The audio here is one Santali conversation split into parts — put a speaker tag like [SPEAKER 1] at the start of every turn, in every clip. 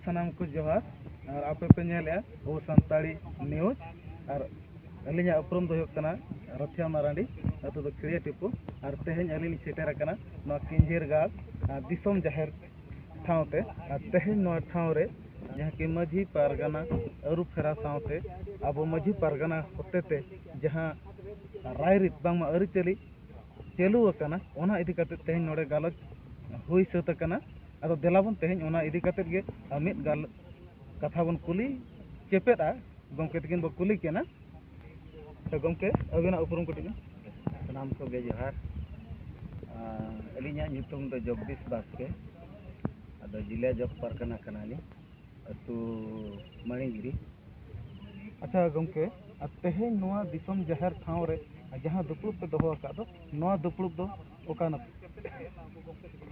[SPEAKER 1] ᱥᱟᱱᱟᱢ ᱠᱚ ᱡᱚᱦᱟᱨ ᱟᱨ ᱟᱯᱮ ᱯᱮ ᱧᱮᱞᱮᱜᱼᱟ ᱟᱵᱚ ᱥᱟᱱᱛᱟᱲᱤ ᱱᱤᱭᱩᱡᱽ ᱟᱨ ᱟᱹᱞᱤᱧᱟᱜ ᱩᱯᱨᱩᱢ ᱫᱚ ᱦᱩᱭᱩᱜ ᱠᱟᱱᱟ ᱨᱟᱛᱷᱤᱭᱟ ᱢᱟᱨᱟᱱᱰᱤ ᱟᱹᱛᱩ ᱫᱚ ᱠᱷᱤᱲᱤᱭᱟᱹ ᱴᱤᱯᱩ ᱟᱨ ᱛᱮᱦᱮᱧ ᱟᱹᱞᱤᱧ ᱞᱤᱧ ᱥᱮᱴᱮᱨ ᱟᱠᱟᱱᱟ ᱱᱚᱣᱟ ᱠᱤᱧᱡᱷᱤᱨ ᱜᱟᱲ ᱫᱤᱥᱚᱢ ᱡᱟᱦᱮᱨ ᱥᱟᱶᱛᱮ ᱟᱨ ᱛᱮᱦᱮᱧ ᱱᱚᱣᱟ ᱴᱷᱟᱶ ᱨᱮ ᱡᱟᱦᱟᱸ ᱠᱤ ᱢᱟᱹᱡᱷᱤ ᱯᱟᱨᱜᱟᱱᱟ ᱟᱹᱨᱩ ᱯᱷᱮᱨᱟᱣ ᱥᱟᱶᱛᱮ ᱟᱵᱚ ᱢᱟᱹᱡᱷᱤ ᱯᱟᱨᱜᱟᱱᱟ ᱦᱚᱛᱮ ᱛᱮ ᱡᱟᱦᱟᱸ ᱨᱟᱭ ᱨᱤᱛ ᱵᱟᱝᱢᱟ ᱟᱹᱨᱤᱪᱟᱹᱞᱤ ᱪᱟᱹᱞᱩ ᱟᱠᱟᱱᱟ ᱚᱱᱟ ᱤᱫᱤ ᱠᱟᱛᱮ ᱛᱮᱦᱮᱧ ᱱᱚᱰᱮ ᱜᱟᱞᱚᱪ ᱦᱩᱭ ᱥᱟᱹᱛ ᱟᱠᱟᱱᱟ ᱟᱫᱚ ᱫᱮᱞᱟ ᱵᱚᱱ ᱛᱮᱦᱮᱧ ᱚᱱᱟ ᱤᱫᱤ ᱠᱟᱛᱮ ᱜᱮ ᱢᱤᱫ ᱜᱟᱞᱚᱪ ᱠᱟᱛᱷᱟ ᱵᱚᱱ ᱠᱩᱞᱤ ᱪᱮᱯᱮᱫᱼᱟ ᱜᱚᱢᱠᱮ ᱛᱟᱹᱠᱤᱱ ᱵᱚᱱ ᱠᱩᱞᱤ ᱠᱤᱱᱟ ᱜᱚᱢᱠᱮ ᱟᱹᱵᱤᱱᱟᱜ ᱩᱯᱨᱩᱢ ᱠᱟᱹᱴᱤᱡ ᱵᱤᱱ ᱥᱟᱱᱟᱢ ᱠᱚᱜᱮ ᱡᱚᱦᱟᱨ ᱟᱹᱞᱤᱧᱟᱜ ᱧᱩᱛᱩᱢ ᱫᱚ ᱡᱚᱜᱽᱫᱤᱥ ᱵᱟᱥᱠᱮ ᱟᱫᱚ ᱡᱤᱞᱟ ᱡᱚᱜᱽ ᱯᱟᱨᱜᱟᱱᱟ ᱠᱟᱱᱟᱞᱤᱧ ᱟᱹᱛᱩ ᱢᱟᱹᱱᱤᱜᱤᱨᱤ ᱟᱪᱪᱷᱟ ᱜᱚᱢᱠᱮ ᱟᱨ ᱛᱮᱦᱮᱧ ᱱᱚᱣᱟ ᱫᱤᱥᱚᱢ ᱡᱟᱦᱮᱨ ᱴᱷᱟᱶ ᱨᱮ ᱡᱟᱦᱟᱸ ᱫᱩᱯᱲᱩᱵ ᱯᱮ ᱫᱚᱦᱚ ᱟᱠᱟᱫ ᱫᱚ ᱱᱚᱣᱟ ᱫᱩᱯᱲᱩᱵ ᱫᱚ ᱚᱠᱟ ᱱᱟᱯ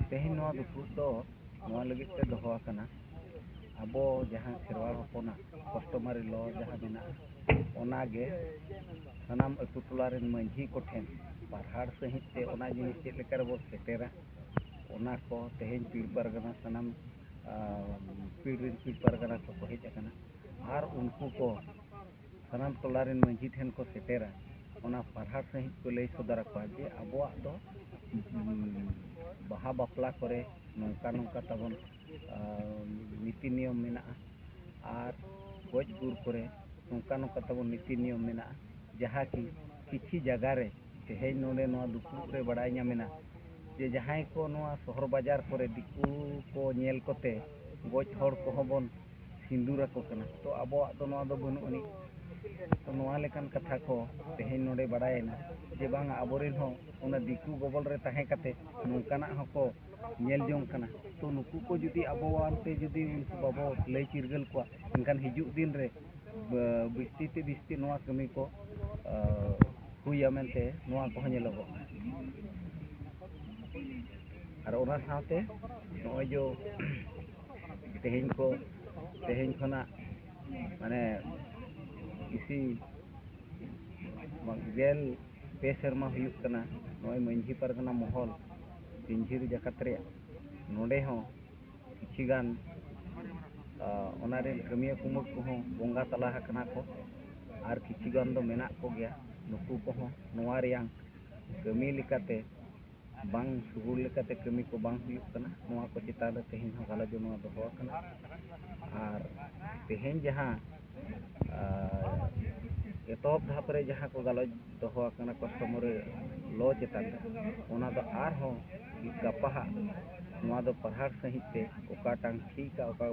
[SPEAKER 1] ᱛᱮᱦᱮᱧ ᱱᱚᱣᱟ ᱫᱩᱯᱲᱩᱵ ᱫᱚ ᱱᱚᱣᱟ ᱞᱟᱹᱜᱤᱫ ᱛᱮ ᱫᱚᱦᱚ ᱟᱠᱟᱱᱟ ᱟᱵᱚ ᱡᱟᱦᱟᱸ ᱠᱷᱮᱨᱣᱟᱲ ᱦᱚᱯᱚᱱᱟᱜ ᱠᱟᱥᱴᱚᱢᱟᱨᱤ ᱞᱚ ᱡᱟᱦᱟᱸ ᱢᱮᱱᱟᱜᱼᱟ ᱚᱱᱟᱜᱮ ᱥᱟᱱᱟᱢ ᱟᱹᱛᱩ ᱴᱚᱞᱟ ᱨᱮᱱ ᱢᱟᱺᱡᱷᱤ ᱠᱚᱴᱷᱮᱱ ᱯᱟᱨᱦᱟᱲ ᱥᱟᱺᱦᱤᱡ ᱛᱮ ᱚᱱᱟ ᱡᱤᱱᱤᱥ ᱪᱮᱫ ᱞᱮᱠᱟ ᱨᱮᱵᱚ ᱥᱮᱴᱮᱨᱟ ᱚᱱᱟ ᱠᱚ ᱛᱮᱦᱮᱧ ᱯᱤᱲ ᱯᱟᱨᱜᱟᱱᱟ ᱥᱟᱱᱟᱢ ᱯᱤᱲ ᱨᱮᱱ ᱯᱤᱲ ᱯᱟᱨᱜᱟᱱᱟ ᱠᱚᱠᱚ ᱦᱮᱡ ᱟᱠᱟᱱᱟ ᱟᱨ ᱩᱱᱠᱩ ᱠᱚ ᱥᱟᱱᱟᱢ ᱴᱚᱞᱟ ᱨᱮᱱ ᱢᱟᱺᱡᱷᱤ ᱴᱷᱮᱱ ᱠᱚ ᱥᱮᱴᱮᱨᱟ ᱚᱱᱟ ᱯᱟᱨᱦᱟᱲ ᱥᱟᱺᱦᱤᱡ ᱠᱚ ᱞᱟᱹᱭ ᱥᱚᱫᱚᱨ ᱟᱠᱚᱣᱟ ᱡᱮ ᱟᱵᱚᱣᱟᱜ ᱫᱚ ᱵᱟᱦᱟ ᱵᱟᱯᱞᱟ ᱠᱚᱨᱮ ᱱᱚᱝᱠᱟ ᱱᱚᱝᱠᱟ ᱛᱟᱵᱚᱱ ᱱᱤᱛᱤ ᱱᱤᱭᱚᱢ ᱢᱮᱱᱟᱜᱼᱟ ᱟᱨ ᱜᱚᱡ ᱜᱩᱨ ᱠᱚᱨᱮ ᱱᱚᱝᱠᱟ ᱱᱚᱝᱠᱟ ᱛᱟᱵᱚᱱ ᱱᱤᱛᱤ ᱱᱤᱭᱚᱢ ᱢᱮᱱᱟᱜᱼᱟ ᱡᱟᱦᱟᱸ ᱠᱤ ᱠᱤᱪᱷᱤ ᱡᱟᱭᱜᱟ ᱨᱮ ᱛᱮᱦᱮᱧ ᱱᱚᱰᱮ ᱱᱚᱣᱟ ᱫᱩᱯᱩᱲᱩᱵ ᱨᱮ ᱵᱟᱲᱟᱭ ᱧᱟᱢᱮᱱᱟ ᱡᱮ ᱡᱟᱦᱟᱸᱭ ᱠᱚ ᱱᱚᱣᱟ ᱥᱚᱦᱚᱨ ᱵᱟᱡᱟᱨ ᱠᱚᱨᱮ ᱫᱤᱠᱩ ᱠᱚ ᱧᱮᱞ ᱠᱚᱛᱮ ᱜᱚᱡ ᱦᱚᱲ ᱠᱚᱦᱚᱸ ᱵᱚᱱ ᱥᱤᱸᱫᱩᱨ ᱟᱠᱚ ᱠᱟᱱᱟ ᱛᱚ ᱟᱵᱚᱣᱟᱜ ᱫᱚ ᱱᱚᱣᱟ ᱫᱚ ᱵᱟᱹᱱᱩᱜ ᱟᱹᱱᱤᱡ ᱛᱚ ᱱᱚᱣᱟ ᱞᱮᱠᱟᱱ ᱠᱟᱛᱷᱟ ᱠᱚ ᱛᱮᱦᱮᱧ ᱱᱚᱰᱮ ᱵᱟᱲᱟᱭᱮᱱᱟ ᱡᱮ ᱵᱟᱝᱟ ᱟᱵᱚᱨᱮᱱ ᱦᱚᱸ ᱚᱱᱟ ᱫᱤᱠᱩ ᱜᱚᱵᱚᱞ ᱨᱮ ᱛᱟᱦᱮᱸ ᱠᱟᱛᱮ ᱱᱚᱝᱠᱟᱱᱟᱜ ᱦᱚᱸᱠᱚ ᱧᱮᱞ ᱡᱚᱝ ᱠᱟᱱᱟ ᱛᱚ ᱱᱩᱠᱩ ᱠᱚ ᱡᱩᱫᱤ ᱟᱵᱚᱣᱟᱜ ᱛᱮ ᱡᱩᱫᱤ ᱩᱱᱠᱩ ᱵᱟᱵᱚ ᱞᱟᱹᱭ ᱪᱤᱨᱜᱟᱹᱞ ᱠᱚᱣᱟ ᱮᱱᱠᱷᱟᱱ ᱦᱤᱡᱩᱜ ᱫᱤᱱ ᱨᱮ ᱵᱤᱥᱛᱤ ᱛᱮ ᱵᱤᱥᱛᱤ ᱱᱚᱣᱟ ᱠᱟᱹᱢᱤ ᱠᱚ ᱦᱩᱭᱟ ᱢᱮᱱᱛᱮ ᱱᱚᱣᱟ ᱠᱚᱦᱚᱸ ᱧᱮᱞᱚᱜᱚᱜ ᱠᱟᱱᱟ ᱟᱨ ᱚᱱᱟ ᱥᱟᱶᱛᱮ ᱱᱚᱜᱼᱚᱭ ᱡᱮ ᱛᱮᱦᱮᱧ ᱠᱚ ᱛᱮᱦᱮᱧ ᱠᱷᱚᱱᱟᱜ ᱢᱟᱱᱮ ᱤᱥᱤ ᱜᱮᱞ ᱯᱮ ᱥᱮᱨᱢᱟ ᱦᱩᱭᱩᱜ ᱠᱟᱱᱟ ᱱᱚᱜᱼᱚᱭ ᱢᱟᱹᱡᱷᱤ ᱯᱟᱨᱜᱟᱱᱟ ᱢᱚᱦᱚᱞ ᱯᱤᱧᱡᱷᱤᱨ ᱡᱟᱠᱟᱛ ᱨᱮᱭᱟᱜ ᱱᱚᱰᱮ ᱦᱚᱸ ᱠᱤᱪᱷᱤ ᱜᱟᱱ ᱚᱱᱟ ᱨᱮᱱ ᱠᱟᱹᱢᱤᱭᱟᱹ ᱠᱩᱢᱩᱴ ᱠᱚᱦᱚᱸ ᱵᱚᱸᱜᱟ ᱛᱟᱞᱟ ᱟᱠᱟᱱᱟ ᱠᱚ ᱟᱨ ᱠᱤᱪᱷᱩ ᱜᱟᱱ ᱫᱚ ᱢᱮᱱᱟᱜ ᱠᱚᱜᱮᱭᱟ ᱱᱩᱠᱩ ᱠᱚᱦᱚᱸ ᱱᱚᱣᱟ ᱨᱮᱭᱟᱝ ᱠᱟᱹᱢᱤ ᱞᱮᱠᱟᱛᱮ ᱵᱟᱝ ᱥᱩᱜᱩᱲ ᱞᱮᱠᱟᱛᱮ ᱠᱟᱹᱢᱤ ᱠᱚ ᱵᱟᱝ ᱦᱩᱭᱩᱜ ᱠᱟᱱᱟ ᱱᱚᱣᱟ ᱠᱚ ᱪᱮᱛᱟᱱ ᱨᱮ ᱛᱮᱦᱮᱧ ᱦᱚᱸ ᱜᱟᱞᱚᱪ ᱫᱚ ᱱᱚᱣᱟ ᱫᱚᱦᱚ ᱟᱠᱟᱱᱟ ᱟᱨ ᱛᱮᱦᱮᱧ ᱡᱟᱦᱟᱸ ᱮᱛᱚᱦᱚᱵ ᱫᱷᱟᱯ ᱨᱮ ᱡᱟᱦᱟᱸ ᱠᱚ ᱜᱟᱞᱚᱪ ᱫᱚᱦᱚ ᱟᱠᱟᱱᱟ ᱠᱚᱥᱴᱚᱢᱚᱨᱮ ᱞᱚ ᱪᱮᱛᱟᱱ ᱨᱮ ᱚᱱᱟ ᱫᱚ ᱟᱨᱦᱚᱸ ᱜᱟᱯᱟ ᱦᱟᱸᱜ ᱱᱚᱣᱟ ᱫᱚ ᱯᱟᱲᱦᱟᱲ ᱥᱟᱺᱦᱤᱡ ᱛᱮ ᱚᱠᱟᱴᱟᱝ ᱴᱷᱤᱠᱟ ᱚᱠᱟ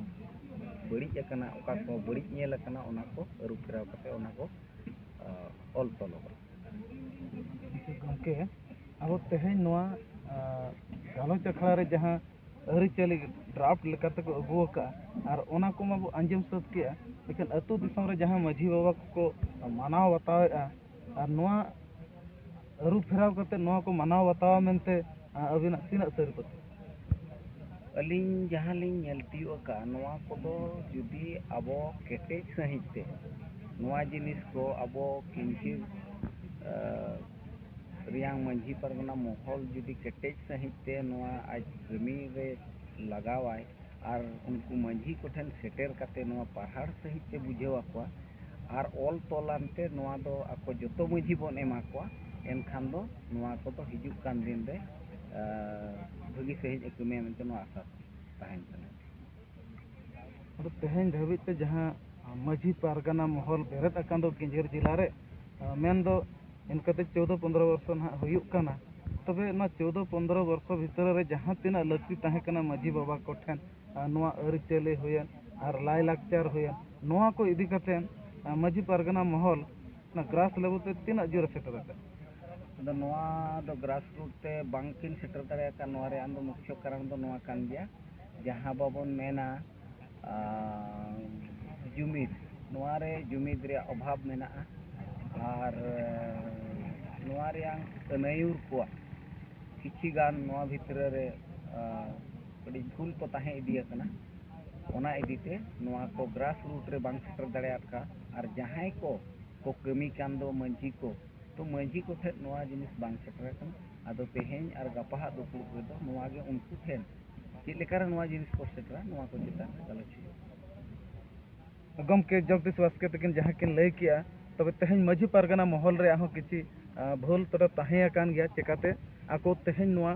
[SPEAKER 1] ᱵᱟᱹᱲᱤᱡ ᱟᱠᱟᱱᱟ ᱚᱠᱟ ᱠᱚ ᱵᱟᱹᱲᱤᱡ ᱧᱮᱞ ᱟᱠᱟᱱᱟ ᱚᱱᱟ ᱠᱚ ᱟᱹᱨᱩ ᱯᱷᱮᱨᱟᱣ ᱠᱟᱛᱮ ᱚᱱᱟ ᱠᱚ ᱚᱞ ᱛᱚᱞᱚᱜᱼᱟ ᱜᱚᱢᱠᱮ ᱟᱵᱚ ᱛᱮᱦᱮᱧ ᱱᱚᱣᱟ ᱜᱟᱞᱚᱪ ᱟᱠᱷᱲᱟ ᱨᱮ ᱡᱟᱦᱟᱸ ᱟᱹᱨᱤᱪᱟᱹᱞᱤ ᱰᱨᱟᱯᱷᱴ ᱞᱮᱠᱟ ᱛᱮᱠᱚ ᱟᱹᱜᱩ ᱟᱠᱟᱫᱼᱟ ᱟᱨ ᱚᱱᱟ ᱠᱚᱢᱟ ᱵᱚ ᱟᱸᱡᱚᱢ ᱥᱟᱹᱛ ᱠᱮᱫᱼᱟ ᱞᱮᱠᱤᱱ ᱟᱹᱛᱩ ᱫᱤᱥᱚᱢ ᱨᱮ ᱡᱟᱦᱟᱸ ᱢᱟᱹᱡᱷᱤ ᱵᱟᱵᱟ ᱠᱚᱠᱚ ᱢᱟᱱᱟᱣ ᱵᱟᱛᱟᱣᱮᱫᱼᱟ ᱟᱨ ᱱᱚᱣᱟ ᱟᱹᱨᱩ ᱯᱷᱮᱨᱟᱣ ᱠᱟᱛᱮᱫ ᱱᱚᱣᱟ ᱠᱚ ᱢᱟᱱᱟᱣ ᱵᱟᱛᱟᱣᱟ ᱢᱮᱱᱛᱮ ᱟᱹᱵᱤᱱᱟᱜ ᱛᱤᱱᱟᱹᱜ ᱥᱟᱹᱨᱤ ᱯᱟᱹᱛᱭᱟᱹᱣ ᱟᱹᱞᱤᱧ ᱡᱟᱦᱟᱸ ᱞᱤᱧ ᱧᱮᱞ ᱛᱤᱭᱳᱜ ᱟᱠᱟᱫᱼᱟ ᱱᱚᱣᱟ ᱠᱚᱫᱚ ᱡᱩᱫᱤ ᱟᱵᱚ ᱠᱮᱴᱮᱡ ᱥᱟᱺᱦᱤᱡ ᱛᱮ ᱱᱚᱣᱟ ᱡᱤᱱᱤᱥ ᱠᱚ ᱟᱵᱚ ᱠᱤᱱᱛᱤ ᱨᱮᱭᱟᱝ ᱢᱟᱹᱡᱷᱤ ᱯᱟᱨᱜᱟᱱᱟ ᱢᱚᱦᱚᱞ ᱡᱩᱫᱤ ᱠᱮᱴᱮᱡ ᱥᱟᱺᱦᱤᱡ ᱛᱮ ᱱᱚᱣᱟ ᱟᱡ ᱠᱟᱹᱢᱤ ᱨᱮ ᱞᱟᱜᱟᱣᱟᱭ ᱟᱨ ᱩᱱᱠᱩ ᱢᱟᱹᱡᱷᱤ ᱠᱚᱴᱷᱮᱱ ᱥᱮᱴᱮᱨ ᱠᱟᱛᱮ ᱱᱚᱣᱟ ᱯᱟᱨᱦᱟᱲ ᱥᱟᱺᱦᱤᱡ ᱛᱮ ᱵᱩᱡᱷᱟᱹᱣ ᱟᱠᱚᱣᱟ ᱟᱨ ᱚᱞ ᱛᱚᱞ ᱟᱱᱛᱮ ᱱᱚᱣᱟ ᱫᱚ ᱟᱠᱚ ᱡᱚᱛᱚ ᱢᱟᱹᱡᱷᱤ ᱵᱚᱱ ᱮᱢᱟ ᱠᱚᱣᱟ ᱮᱱᱠᱷᱟᱱ ᱫᱚ ᱱᱚᱣᱟ ᱠᱚᱫᱚ ᱦᱤᱡᱩᱜ ᱠᱟᱱ ᱫᱤᱱ ᱨᱮ ᱵᱷᱟᱹᱜᱤ ᱥᱟᱺᱦᱤᱡ ᱮ ᱠᱟᱹᱢᱤᱭᱟ ᱢᱮᱱᱛᱮ ᱱᱚᱣᱟ ᱟᱥᱟ ᱛᱟᱦᱮᱱ ᱠᱟᱱᱟ ᱟᱫᱚ ᱛᱮᱦᱮᱧ ᱫᱷᱟᱹᱵᱤᱡ ᱛᱮ ᱡᱟᱦᱟᱸ ᱢᱟᱹᱡᱷᱤ ᱯᱟᱨᱜᱟᱱᱟ ᱢᱚᱦᱚᱞ ᱵᱮᱨᱮᱫ ᱟᱠᱟᱱ ᱫᱚ ᱠᱮᱸᱡᱷᱮᱨ ᱡᱮᱞᱟ ᱨᱮ ᱢᱮᱱ ᱫᱚ ᱤᱱᱠᱟᱹᱛᱮ ᱪᱳᱫᱚ ᱯᱚᱸᱫᱽᱨᱚ ᱵᱚᱨᱥᱚ ᱱᱟᱜ ᱦᱩᱭᱩᱜ ᱠᱟᱱᱟ ᱛᱚᱵᱮ ᱚᱱᱟ ᱪᱳᱫᱚ ᱯᱚᱸᱫᱽᱨᱚ ᱵᱚᱨᱥᱚ ᱵᱷᱤᱛᱨᱤ ᱨᱮ ᱡᱟᱦᱟᱸ ᱛᱤᱱᱟᱹᱜ ᱞᱟᱹᱠᱛᱤ ᱛᱟᱦᱮᱸ ᱠᱟᱱᱟ ᱢᱟᱹᱡᱷᱤ ᱵᱟᱵᱟ ᱠᱚ ᱴᱷᱮᱱ ᱟᱨ ᱱᱚᱣᱟ ᱟᱹᱨᱤᱪᱟᱹᱞᱤ ᱦᱩᱭᱮᱱ ᱟᱨ ᱞᱟᱭᱼᱞᱟᱠᱪᱟᱨ ᱦᱩᱭᱮᱱ ᱱᱚᱣᱟ ᱠᱚ ᱤᱫᱤ ᱠᱟᱛᱮᱫ ᱢᱟᱹᱡᱷᱤ ᱯᱟᱨᱜᱟᱱᱟ ᱢᱚᱦᱚᱞ ᱚᱱᱟ ᱜᱨᱟᱥ ᱞᱮᱵᱮᱞ ᱛᱮ ᱛᱤᱱᱟᱹᱜ ᱡᱳᱨᱮ ᱥᱮᱴᱮᱨ ᱟᱠᱟᱫᱟ ᱟᱫᱚ ᱱᱚᱣᱟ ᱫᱚ ᱜᱨᱟᱥ ᱨᱩᱴ ᱛᱮ ᱵᱟᱝᱠᱤᱱ ᱥᱮᱴᱮᱨ ᱫᱟᱲᱮᱭᱟᱜ ᱠᱟᱱ ᱱᱚᱣᱟ ᱨᱮᱭᱟᱜ ᱫᱚ ᱢᱩᱠᱠᱷᱚ ᱠᱟᱨᱚᱱ ᱫᱚ ᱱᱚᱣᱟ ᱠᱟᱱ ᱜᱮᱭᱟ ᱡᱟᱦᱟᱸ ᱵᱟᱵᱚᱱ ᱢᱮᱱᱟ ᱡᱩᱢᱤᱫ ᱱᱚᱣᱟ ᱨᱮ ᱡᱩᱢᱤᱫ ᱨᱮᱭᱟᱜ ᱚᱵᱷᱟᱵᱽ ᱢᱮᱱᱟᱜᱼᱟ ᱟᱨ ᱱᱚᱣᱟ ᱨᱮᱭᱟᱝ ᱟᱹᱱᱟᱹᱭᱩᱨ ᱠᱚᱣᱟᱜ ᱠᱤᱪᱷᱤ ᱜᱟᱱ ᱱᱚᱣᱟ ᱵᱷᱤᱛᱨᱤ ᱨᱮ ᱟᱹᱰᱤ ᱵᱷᱩᱞ ᱠᱚ ᱛᱟᱦᱮᱸ ᱤᱫᱤ ᱟᱠᱟᱱᱟ ᱚᱱᱟ ᱤᱫᱤ ᱛᱮ ᱱᱚᱣᱟ ᱠᱚ ᱜᱨᱟᱥ ᱨᱩᱴ ᱨᱮ ᱵᱟᱝ ᱥᱮᱴᱮᱨ ᱫᱟᱲᱮᱭᱟᱫ ᱠᱟ ᱟᱨ ᱡᱟᱦᱟᱸᱭ ᱠᱚ ᱠᱚ ᱠᱟᱹᱢᱤ ᱠᱟᱱ ᱫᱚ ᱢᱟᱹᱡᱷᱤ ᱠᱚ ᱛᱚ ᱢᱟᱹᱡᱷᱤ ᱠᱚ ᱴᱷᱮᱱ ᱱᱚᱣᱟ ᱡᱤᱱᱤᱥ ᱵᱟᱝ ᱥᱮᱴᱮᱨ ᱟᱠᱟᱱᱟ ᱟᱫᱚ ᱛᱮᱦᱮᱧ ᱟᱨ ᱜᱟᱯᱟᱦᱟᱜ ᱫᱩᱯᱲᱩᱵ ᱨᱮᱫᱚ ᱱᱚᱣᱟ ᱜᱮ ᱩᱱᱠᱩ ᱴᱷᱮᱱ ᱪᱮᱫ ᱞᱮᱠᱟᱨᱮ ᱱᱚᱣᱟ ᱡᱤᱱᱤᱥ ᱠᱚ ᱥᱮᱴᱮᱨᱟ ᱱᱚᱣᱟ ᱠᱚ ᱪᱮᱛᱟᱱ ᱨᱮ ᱜᱟᱞᱚᱪ ᱦᱩᱭᱩᱜᱼᱟ ᱜᱚᱢᱠᱮ ᱡᱚᱜᱽᱫᱤᱥ ᱵᱟᱥᱠᱮ ᱛᱟᱹᱠᱤᱱ ᱡᱟᱦᱟᱸ ᱠᱤᱱ ᱞᱟᱹᱭ ᱠᱮᱜᱼᱟ ᱛᱚᱵᱮ ᱛᱮᱦᱮᱧ ᱢᱟᱹᱡᱷᱤ ᱯᱟᱨᱜᱟᱱᱟ ᱢᱚᱦᱚᱞ ᱨᱮᱭᱟᱜ ᱦᱚᱸ ᱠᱤᱪᱷᱤ ᱵᱷᱩᱞ ᱛᱚᱵᱮ ᱛᱟᱦᱮᱸ ᱟᱠᱟᱱ ᱜᱮᱭᱟ ᱪᱮᱠᱟᱛᱮ ᱟᱠᱚ ᱛᱮᱦᱮᱧ ᱱᱚᱣᱟ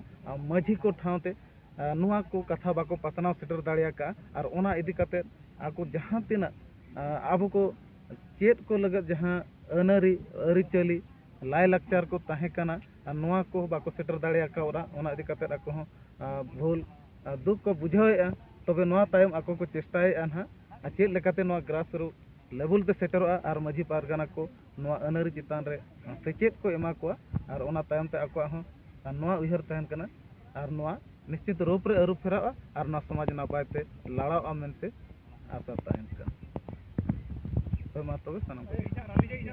[SPEAKER 1] ᱢᱟᱹᱡᱷᱤ ᱠᱚ ᱴᱷᱟᱶᱛᱮ ᱱᱚᱣᱟ ᱠᱚ ᱠᱟᱛᱷᱟ ᱵᱟᱠᱚ ᱯᱟᱥᱱᱟᱣ ᱥᱮᱴᱮᱨ ᱫᱟᱲᱮ ᱟᱠᱟᱫᱼᱟ ᱟᱨ ᱚᱱᱟ ᱤᱫᱤ ᱠᱟᱛᱮ ᱟᱠᱚ ᱡᱟᱦᱟᱸ ᱛᱤᱱᱟᱹᱜ ᱟᱵᱚ ᱠᱚ ᱪᱮᱫ ᱠᱚ ᱞᱟᱹᱜᱤᱫ ᱡᱟᱦᱟᱸ ᱟᱹᱱᱼᱟᱹᱨᱤ ᱟᱹᱨᱤᱪᱟᱹᱞᱤ ᱞᱟᱭᱼᱞᱟᱠᱪᱟᱨ ᱠᱚ ᱛᱟᱦᱮᱸ ᱠᱟᱱᱟ ᱟᱨ ᱱᱚᱣᱟ ᱠᱚ ᱵᱟᱠᱚ ᱥᱮᱴᱮᱨ ᱫᱟᱲᱮ ᱠᱟᱣᱫᱟ ᱚᱱᱟ ᱤᱫᱤ ᱠᱟᱛᱮᱫ ᱟᱠᱚ ᱦᱚᱸ ᱵᱷᱩᱞ ᱫᱩᱠ ᱠᱚ ᱵᱩᱡᱷᱟᱹᱣᱮᱫᱼᱟ ᱛᱚᱵᱮ ᱱᱚᱣᱟ ᱛᱟᱭᱚᱢ ᱟᱠᱚ ᱠᱚ ᱪᱮᱥᱴᱟᱭᱮᱫᱼᱟ ᱦᱟᱸᱜ ᱟᱨ ᱪᱮᱫ ᱞᱮᱠᱟᱛᱮ ᱱᱚᱣᱟ ᱜᱨᱟᱥ ᱨᱩᱴ ᱞᱮᱵᱮᱞ ᱛᱮ ᱥᱮᱴᱮᱨᱚᱜᱼᱟ ᱟᱨ ᱢᱟᱹᱡᱷᱤ ᱯᱟᱨᱜᱟᱱᱟ ᱠᱚ ᱱᱚᱣᱟ ᱟᱹᱱᱼᱟᱹᱨᱤ ᱪᱮᱛᱟᱱ ᱨᱮ ᱥᱮᱪᱮᱫ ᱠᱚ ᱮᱢᱟ ᱠᱚᱣᱟ ᱟᱨ ᱚᱱᱟ ᱛᱟᱭᱚᱢ ᱛᱮ ᱟᱠᱚᱣᱟᱜ ᱦᱚᱸ ᱱᱚᱣᱟ ᱩᱭᱦᱟᱹᱨ ᱛᱟᱦᱮᱱ ᱠᱟᱱᱟ ᱟᱨ ᱱᱚᱣᱟ ᱱᱤᱥᱪᱤᱛ ᱨᱩᱯ ᱨᱮ ᱟᱹᱨᱩ ᱯᱷᱮᱨᱟᱜᱼᱟ ᱟᱨ ᱱᱚᱣᱟ ᱥᱚᱢᱟᱡᱽ ᱱᱟᱯᱟᱭ ᱛᱮ ᱞᱟᱲᱟᱜᱼᱟ ᱢᱮᱱᱛᱮ ᱟᱥᱟ ᱛᱟᱦᱮᱱ ᱠᱟᱱᱟ ᱦᱳᱭ ᱢᱟ ᱛᱚᱵᱮ ᱥᱟᱱᱟᱢ ᱠᱚᱜᱮ